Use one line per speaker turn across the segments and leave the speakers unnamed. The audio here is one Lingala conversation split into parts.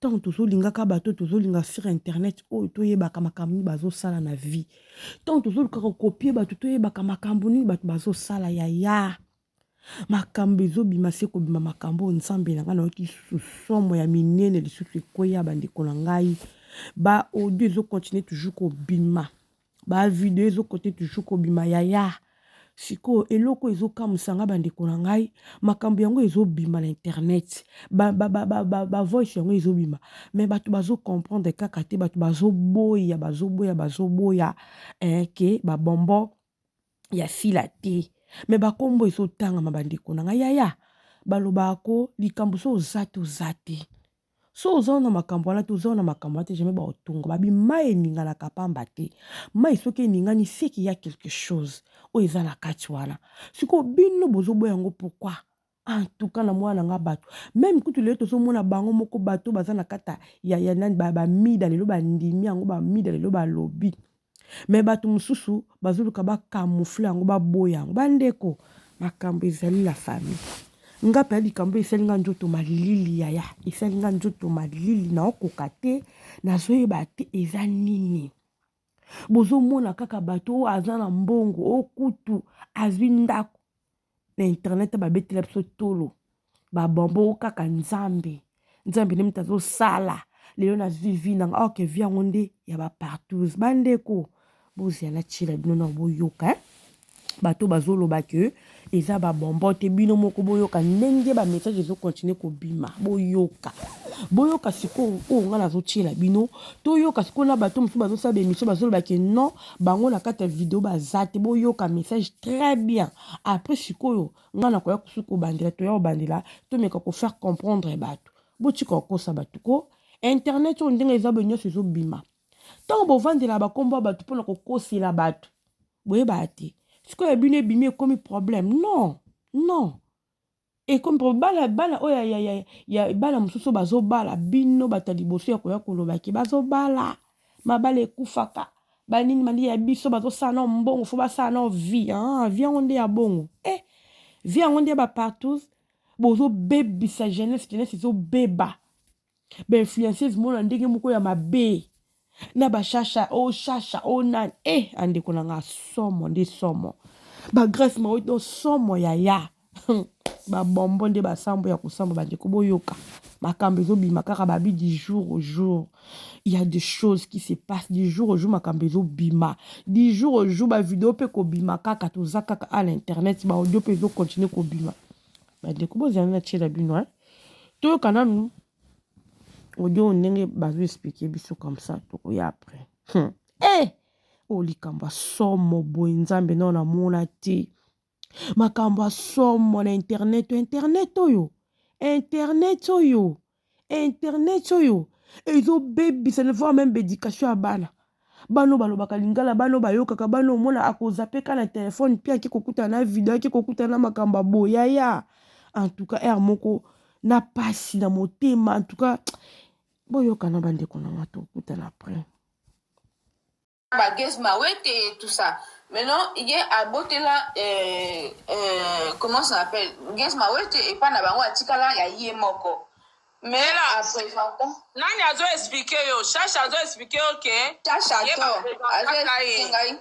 Tango tozo lingaka bato tozo linga sur internet oyo to yebaka makambo nini bazo sala na vie. Tango tozo lukaka kopie bato to yebaka makambo nini bato bazo sala yaya. Makambo ezo bima se kobima makambo oyo Nzambe na ngai na yoki lisusu somo ya minene lisusu ekweya ba ndeko na ngai. Ba audio ezo continuer toujours kobima. Ba video ezo kote toujours kobima yaya. Sikoyo eloko ezo kamusa nga ba ndeko na ngai, makambo yango ezo bima na internet. Ba ba ba ba ba, ba voice yango ezo bima mais batu bazo comprendre kaka te, batu bazo boya, bazo boya, bazo boya eh que ba bonbon ya sila te. Mais ba kombo ezo tangama ba ndeko na ngai yaya. Balobaka ko likambo soki oza te oza te. So oza na makambo wana te, oza na makambo wana te, jamais baotonga. Babi mai eninganaka pamba te. Mai soki eningani, c'est qu'il y a quelque chose oyo eza na kati wana. Sikoyo bino bozoboya yango pourquoi? En tout cas, na mwana na nga bato. Meme kutu lelo tozomona bango moko bato baza na kata ya, ya nani, ba, ba mida lelo bandimi yango, ba mida lelo balobi. Mais batu mususu bazoluka ba camoufle yango baboya yango bandeko makambo ezali la famille nga mpe ya likambo esali nga nzoto malili yaya esali nga nzoto malili naokoka te nazoyeba te eza nini bozomona kaka bato oyo aza na mbongo okutu azwi ndako na internet babetela biso tolo babombo kaka nzambe nzambe nde moto azosala lelo na vivi nanga orke vi yango nde ya bapartous bandeko bozala tyela bino na boyoka eh? bato bazoloba ke eza babombo te bino moko boyoka ndenge bamessage ezokontinue kobima boyoka boyoka sikoyo oyo ngai nazotyela bino toyoka sikoyo na bato mosusu bazosala bemission bazolobake non bango na kati ya video baza te boyoka message très bien après sikoyo ngai nakoya kosuki kobandela toya kobandela tomeka kofaire comprendre bato botika kokosa bato ko internet oyo ndenge eza boye nyonso ezobima ntango bovandela bakombo ya bato mpona kokosela bato boyebaka te sikoyo bino ebimi ekomi problème non non ekomi po bana bana oyo ya, ya, ya bana mosusu bazobala bino bato ya liboso ya koya koloba ke bazobala mabala ekufaka banini banini ya biso bazosala nao mbongo fo basala nao vie ah, vie yango nde ya bongo eh, vie yango nde ya bapartous bozobebisa jeunesse jeunesse ezobeba ba influenceuse mona ndenge moko ya mabe na ba shasha o oh, shasha o oh, nani e eh, andeko na nga somo nde somo ba grace maoi do somo yaya babombo nde basambo ya kosamba bandeko boyoka makambo ezobima kaka babi du jour au jour il y a des choses qui se passent du jour au jour makambo ezobima du jour au jour bavideo mpe kobima kaka toza kaka a l'internet baaudio mpe ezokontinue kobima Bandeko bozala na tiela bino hein. Toyoka nanu audio ndenge bazo expliquer biso comme ça tokoya après. Hmm. Eh! Oh likambo somo boye nzambe nao namona te. Makambo somo na internet, internet oyo. Internet oyo. internet oyo ezobebisa ne voir meme baeducation ya bana bana oyo balobaka lingala bana oyo bayokaka bana oyo omona akozape ka na telefone mpe ake kokutana na video ake kokutana na makambo ya boye yaya en tout cas ere moko na mpasi na motema en tout cas boyokana bandeko na nga tokutana après ba guest
mawete et tout ça maintenant ye abotela euh, euh, comment ça s'appelle guest mawete epa na bango atikala ya ye moko mais Ela a présenta nani azo
explique yo shasha azo explique yo ke shasha to
azo explique ngai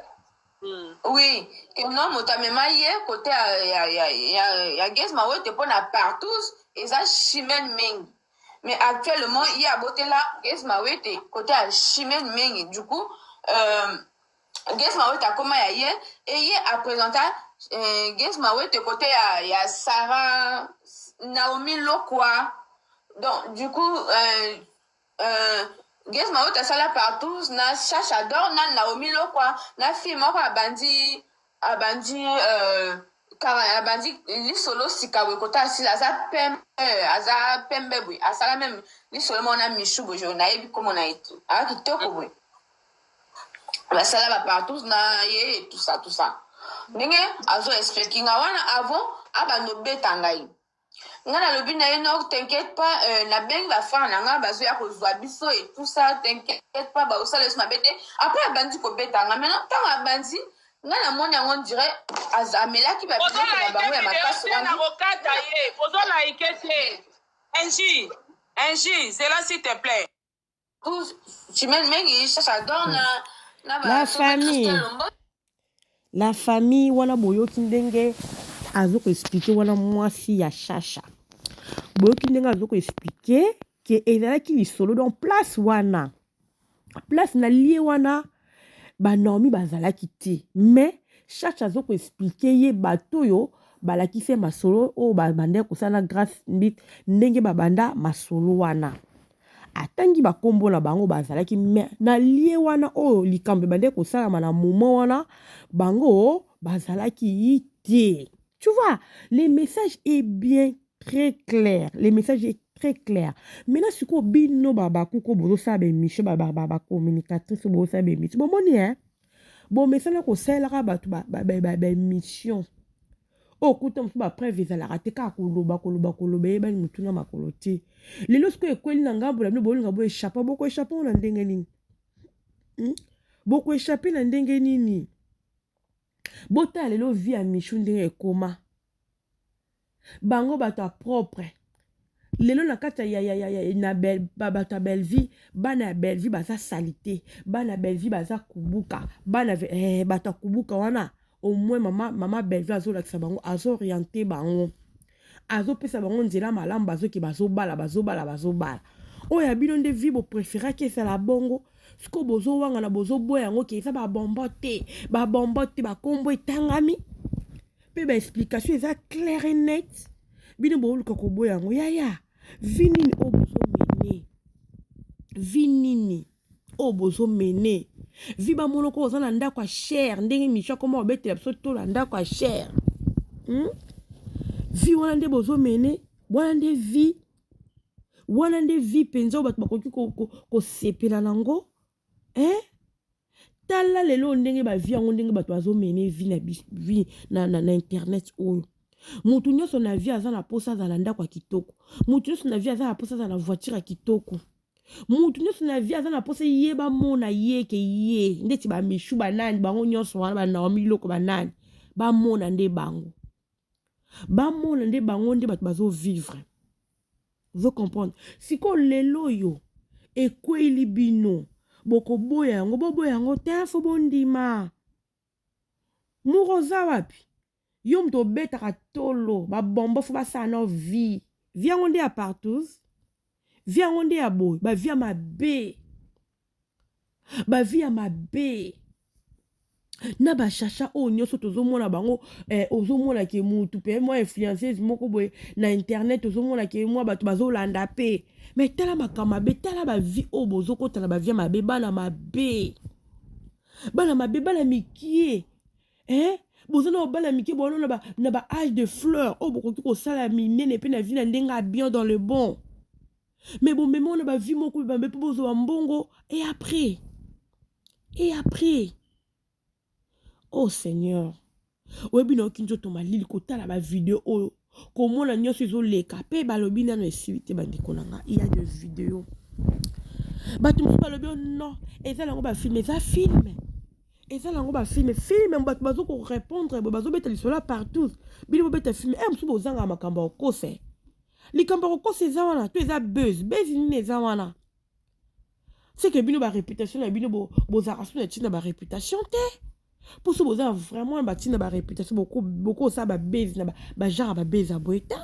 Mm. oui que non moto amema ye kote ya, ya, ya, ya, ya guest mawete mpo na partout eza chimene mingi mais actuellement ye abotela Gez Mawete kote ya Chimène Mengi du coup euh, Gez Mawete akoma ya ye et ye apresenta euh, Gez Mawete kote ya, ya Sarah Naomi Lokwa donc du coup euh, euh, Gez Mawete asala partous na Chacha Dor na Naomi Lokwa na fille moko abandi abandi euh, abandi lisolo sika boye kota asila aza pembe aza pembe boye asala meme lisolo moko na misu boye jo nayebi komo na ye te aa kitoko boye basala bapartout na ye tusa tusa ndenge azo explike nga wana avant abanda obeta ngai nga na lobi na ye non t'inquiète pas euh, na bengi ba frère na nga bazo ya kozwa biso et tout ça t'inquiète pas bakosala yesu mabe te après abandi kobeta nga maintenant ntango abandi nga na moni yango ndire amelaki ba biloko na bango ya makasi wana nakokata
ye ozo laike te enji enji zela s'il te plaît
la famille
la famille wana boyoki ndenge azo ko expliquer wana mwasi ya shasha boyoki ndenge azo ko expliquer ke ezalaki lisolo donc place wana place na lie wana banaomi bazalaki te mais shasha azo ko expliquer ye bato oyo balakisi ye masolo oyo babandaki kosala na grace mbit ndenge babanda masolo wana Atangi ba kombo na bango bazalaki mais na lie wana oyo likambo ebandaki kosalama na moment wana bango bazalaki te. Tu vois, le message est bien très clair. Le message est très clair. Maintenant, si vous avez un babakou, vous avez un émission, vous avez un communicatrice, vous avez un émission. Bon, bon, hein? Bon, mais ça, vous avez un émission. oyo oh, kuta mosusu bapreuve ezalaka te kaka koloba koloba koloba eyebani motu na makolo te lelo sikoyo ekweli na ngambo na bino bolinga boechappe bokoechappe ngo na ndenge nini hmm? bokoechappe na ndenge nini botala lelo vi ya michu ndenge ekoma bango bato ya propre Lelo na kati ya ya ya na bel bato ya Bellevue bana ya Bellevue baza salite bana ya Bellevue baza kubuka bana eh, bato ya kubuka wana au moins mama mama Bellevue azolakisa bango azoriente bango azopesa bango nzela malamu bazoki bazobala bazobala bazobala oyo ya bino nde vi bopreferaki ezala bongo sikoyo bozowangana bozoboya yango ke eza babombo te babombo te bakombo etangami mpe ba explication eza claire et net bino booluka koboya yango yaya vi nini oyo bozomene vi nini oyo bozomene vi bamonoko oza na ndako ya chere ndenge micho akoma obetela biso to na ndako ya chere hmm? vi wana nde bozomene wana nde vi wana nde vi mpenza oyo bato bakoki kosepela ko, ko, na yango eh? tala lelo ndenge bavi yango ndenge bato bazomene vi na, vi na, na, na internet oyo moto nyonso na vie aza na mposa azala ndako ya kitoko moto nyonso na vie aza na mposa azala na voiture ya kitoko moto nyonso na vie aza na mposa ye bamona ye ke ye ndeti bamishu banani bango nyonso wana banaomi biloko banani bamona nde bango bamona nde bango nde bato bazo vivre ozo comprendre sikoyo lelo oyo ekweyili bino bokoboya yango boboya yango te fo bondima moko oza wapi yo moto obetaka tolo babombo fo basala nao vie vie yango nde ya partous vie yango nde ya boye bavie ya mabe ba vie ya mabe na ba shasha oyo nyonso tozomona bango eh, ozomona ke mutu pe mwa influenceuse moko boye na internet ozomona ke mwa bato bazolanda pe me tala makambo mabe tala bavi oyo bozokota na bavia mabe bana mabe bana mabe bana mikie eh? boza na bana mike bowana na ba, na ba age de fleur oyo bokoki kosala minene mpe na vi na ndenge ya bien dans le bon mais bomema wana ba vie moko ebambe mpo bozwa ba mbongo et après et après oh seigneur oyebi nayoki nzoto malili kotala bavideo oyo komona nyonso ezoleka mpe balobi nano esili te bandeko na ngai ya de video bato mosusu balobi oh non eza nango bafilme eza filme eza nango bafilme filme bato bazokorepondre boye bazobeta lisolo ya partout bino bobeta filme e eh, mosusu bozanga makambo ya okose likambo ya kokosa eza wana to eza buzz buzz nini eza wana seke bino bareputation na bino bozalaka so na ntina bareputation te mpo so boza vraiment na bantina bareputation bokosala babezi na bagenre babezi ya boye te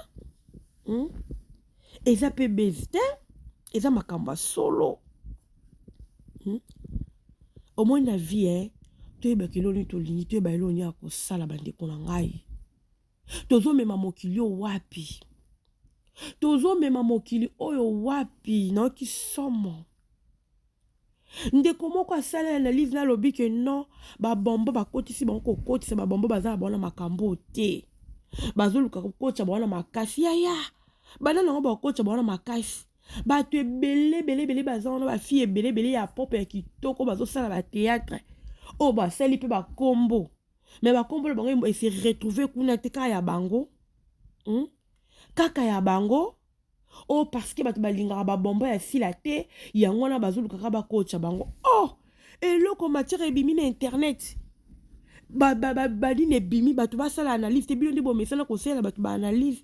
hmm? eza mpe bezi te eza makambo ya solo hmm? omoni na vie eh? toyebaka eloni tolingi toyeba eloni ya kosala bandeko na ngai tozomema mokili oyo wapi tozomema mokili oyo wapi nayoki somo ndeko moko asala ya analyse nalobi ke non babombo bakotisi bango kokotisa babombo baza na bango na makambo te bazoluka kokotisa bango na makasi yaya bana nango bakotisa bango na makasi bato ebele belebele baza wana bafille ebelebele ya pope ya kitoko bazosala bateatre oyo basali mpe bakombo mais bakombo na bango ese retrouve kuna te kaka ya bango hmm? kaka ya bango o oh, parceke bato balingaka babombo ya sila te yango wana bazolukaka bakotya bango o oh, eloko matière ebimi na internet banini ebimi bato basala analyse te bino nde bomesana kosalela bato baanalyse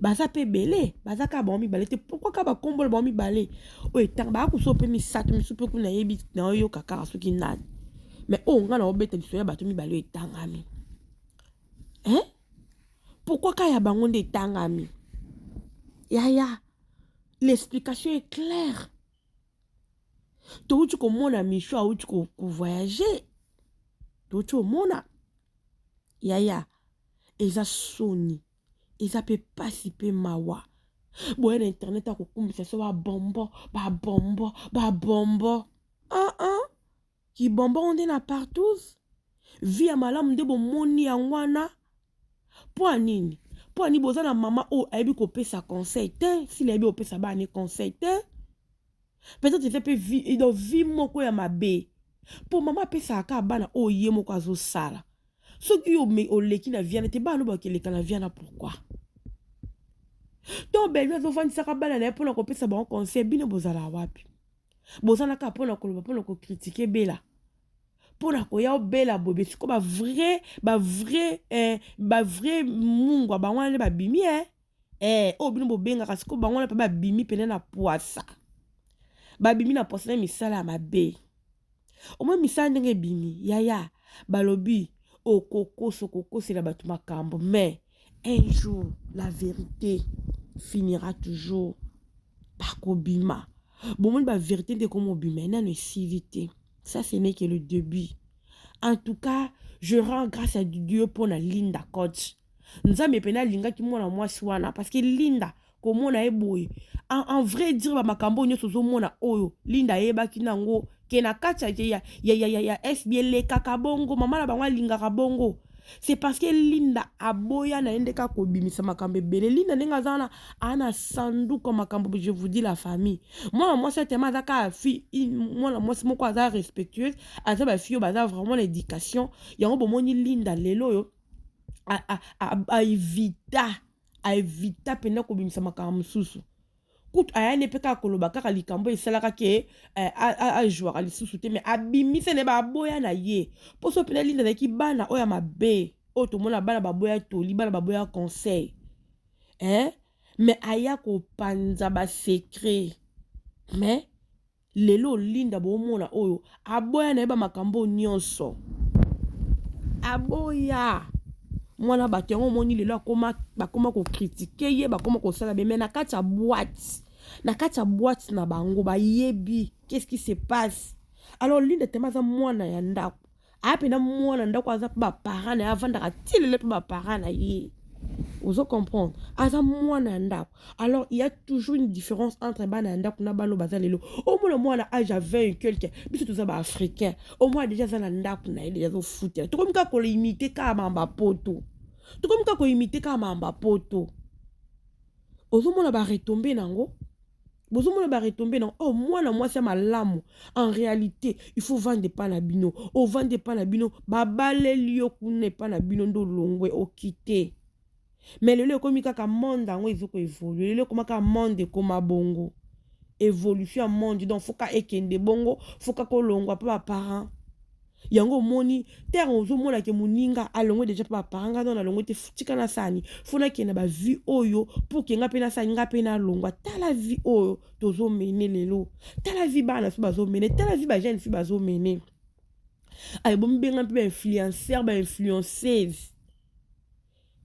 baza pe ebele baza kaka bango mibale te pourkoi kaka bakombola bango mibale oyo etanga baya koso mpe misato misu mpe kuna yebi na oyoka kaka soki nani mais oyo ngai naobeta liso ya bato mibale oyo etangami hein pourkoi kaka ya bango nde etangami yaya l'explication est claire touti komona micho auti kovoyage touti omona yaya eza soni eza pe pasi pe mawa boya na internet akokumbisa so babombo babombo babombo aa ah, ah. kibombo ngo nde na partous vi ya malamu nde bomoni yango wana mpo ya nini mpo ya nini boza na mama oyo ayebi kopesa conseil te sila ayebi kopesa bana conseil te peut-être eza mpe vie, donc vie moko ya mabe mpo mama apesaka kaka bana oyo ye moko azosala soki yo oleki na viana te bana no bakeleka na viana pourquoi to belvi azofandisaka bana na ye mpo na kopesa bango conseil bino bozala wapi boza na kaka mpo na koloba mpo na kokritike bela mpo na koya obela bobe siko bavrai bavrai eh, bavrai mungwa bango wana nde babimi eh. eh, oyo bino bobengaka siko bango wana mpe babimi mpena na pwasa babimi na pwasa na misala ya mabe omoi misala ndenge ebimi yaya balobi okokosa okokosela bato makambo mais un jour la vérité finira toujours bakobima bomoni baverité nde ekomobima enano esili te ça ce n'est que le début en tout cas je rends grâce à dieu mpo na linda coach nzambe pene alingaki mwana mwasi wana parceke linda komona ye boye en, en vrai dire bamakambo oyo nyonso ozomona oyo linda ayebaki na yango ke na kati ya, ya, ya, ya, ya, ya fb elekaka bongo mama na bango alingaka bongo c'est parce que linda aboya na ye ndeke akobimisa makambo ebele linda ndenge aza wana ana sanduka makambo je vous dis la famille mwana mwasi atema aza kaka fille mwana mwasi moko aza respectueuse aza bafille oyo baza vraiment na éducation yango bomoni linda lelo oyo aevita aevita mpenza kobimisa makambo mosusu kutu aya nde mpe kaka koloba kaka likambo esalaka ke eh, ajwaka lisusu te me abimisa na baboya na ye mpo so mpenza linda azalaki bana oyo ya mabe oyo tomona bana baboya toli bana baboya conseil eh? me aya kopanza basekret me Lelo Linda bomona oyo aboya na ye ba makambo nyonso aboya mwana bato yango omoni lelo akoma bakoma kokritike ye bakoma kosala beme na kati ya boite na kati ya boite na bango bayebi qu'est-ce qui se passe alors Linda tellement aza mwana ya ndako aya mpe na mwana ndako aza mpe baparent na ye avandaka ti lelo mpe baparent na ye ozo comprendre aza mwana ya ndako alors il y a toujours une différence entre bana ya ndako na bana oyo baza lelo omona mwana age ya 20 et quelque biso toza baafricain omwana deja aza na ndako na ye deja azofutela tokomi kaka kolimite kaka mamba poto tokomi kaka kolimite kaka mamba poto ozomona baretombe na yango bozomona ba retombe na oh mwana mwasi ya malamu en réalité il faut vanda epai na bino ovanda oh, epai na bino babaleli yo kuna epai na bino nde olongwe okite me lelo ekomi kaka monde yango ezoko evolue lelo ekoma kaka monde ekoma bongo évolution ya monde donc foka ekende bongo foka kolongwa mpo baparent yango omoni terre ozomona ke moninga alongwe deja mpe bapara nga nano alongwe te tika na sani fo nakende na bavie oyo mpo ke nga mpe na sani nga mpe nalongwa tala vie oyo tozomene lelo tala vie bana fi bazomene tala vie bajeune fi bazomene aye bomibenga mpe bainfluencer bainfluenceuse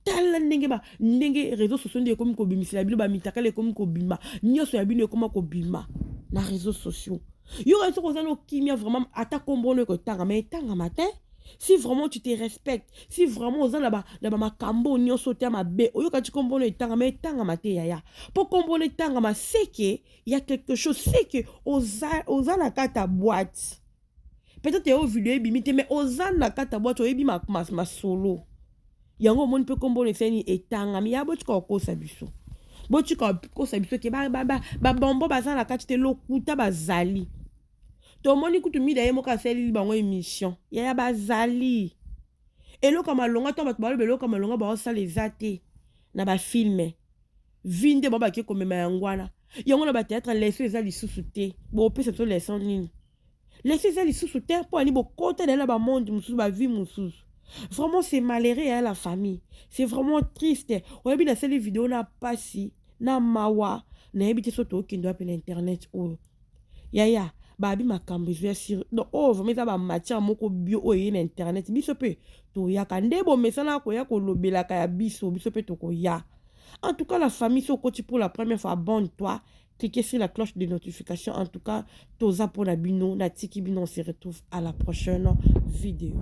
tala ndenge ba ndenge réseau sociaux nde ekomi kobimisela bino bamitakala ekomi kobima nyonso ya bino ekoma kobima na réseau sociaux yoka soki oza nokimia vraiment ata nkombo ono ekotanga ma etangama te si vraiment tu te respecte si vraiment oza na bamakambo ba nyonso te ya mabe oyoka ti nkombo ono etangama etangama te yaya mpo nkombo ono etangama seke ya quelque chose seke oza, oza na kati ya boite peut-être yo video ebimi te mais oza na kati ya bwatu oyebi masolo ma, ma, ma yango omoni mpe nkombo oyo eseni etangami ya botika kokosa biso botika kokosa biso ke babombo baza na kati te lokuta bazali tomoni kutu mida ye moko asaleli bango émission yaya bazali eloko ya malonga to bato baloba eloko ya malonga baosala eza te na bafilme vi nde bao bake komema yango wana yango na bateatre leso eza lisusu te bopesa biso leson nini leso eza lisusu te mpo ani bokota naye na bamonde mosusu bavie mosusu vraiment c'est malheureux ya la famille c'est vraiment triste oyebi nasali video na mpasi na mawa nayebi te so tookende wapi na internet oyo yaya babi makambo ezo ya siri donc oyo vraimen eza bamatière moko bio oyo eye na internet biso mpe toyaka nde bomesana koya kolobelaka ya biso biso mpe tokoya en tout cas la famille so okoti pour la première fois abonne toi cliquez sur la cloche de notification en tout cas toza pona bino na tiki bino on se retrouve à la prochaine vidéo